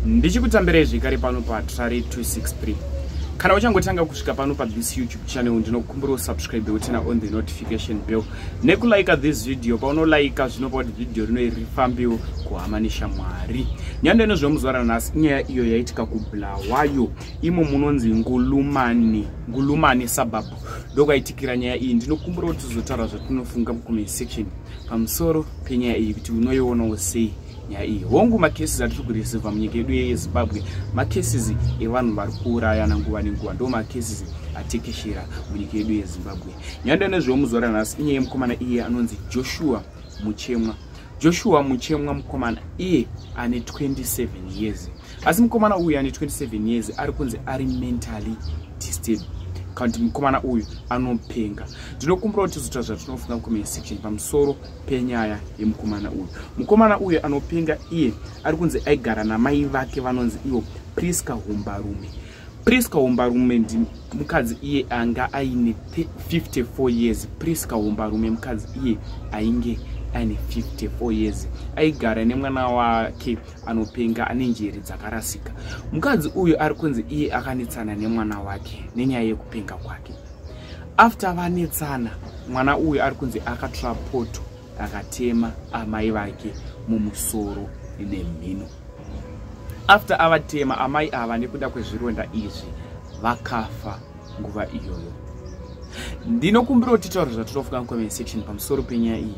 ndichikutambirai zvekare pano patrari 263 kana uchangotanga kusvika pano pathis youtube channel ndinokumbira usubscribe utina on the notification bell nekulika this video paunolaika zvinopa kuti vhidhiyo rino iri rifambiwo kuhama neshamwari nyando inozvemuzuva ranhasi inyaya iyo yaitika kubulawayo imo munonzi ngulumani ngulumani suburb ndokwaitikira nyaya iyi ndinokumbira kuti tizotaura zvatinofunga mucomment section pamusoro penyaya iyi kuti unoionawo sei nyaya iyi hongu macases atiri kureceiva munyika yedu yezimbabwe macases evanhu vari kuurayana nguva nenguva ndo macases atekeshera munyika yedu yezimbabwe nyaya ndanezvewo muzuva ranhasi inyaya yemukomana iye anonzi joshua muchemwa joshua muchemwa mukomana iye ane 27 years asi mukomana uyu ane 27 years ari kunzi ari mentally disturbed kanti mukomana uyu anopenga ndinokumbirawo tizoita zvatinofunga mucomment section pamusoro penyaya yemukomana uyu mukomana uyu anopenga iye ari kunzi aigara namai vake vanonzi ivo prisca humbarume prisca humbarume ndi mukadzi iye anga aine 54 years prisca humbarume mukadzi iye ainge aine 54 years aigara nemwana wake anopenga ane njere dzakarasika mukadzi uyu ari kunzi iye akanetsana nemwana wake nenyaya yekupenga kwake after vanetsana mwana uyu ari kunzi akatora poto akatema amai vake mumusoro nemhino after avatema amai ava nekuda kwezvironda izvi vakafa nguva iyoyo ndinokumbira kuti taura zvatinofunga mucomment section pamusoro penyaya iyi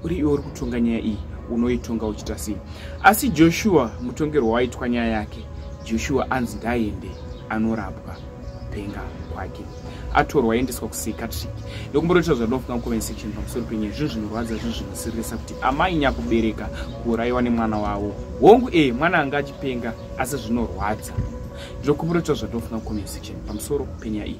uri iwe uri kutonga nyaya iyi unoitonga uchita sei asi joshua mutongerwo waitwa nyaya yake joshua anzi ndaende anorapwa kupenga kwake atorwa aendeswa kupsychiatric ndokumboroita zvadofunga mucomment section pamusoro penyaya zvinhu zvinorwadza zvinhu zvinosiririsa kuti amai nyakubereka kuurayiwa nemwana wavo hongu ee eh, mwana anga achipenga asi zvinorwadza ndokumboroita zvadofunga mucomment section pamusoro penyaya iyi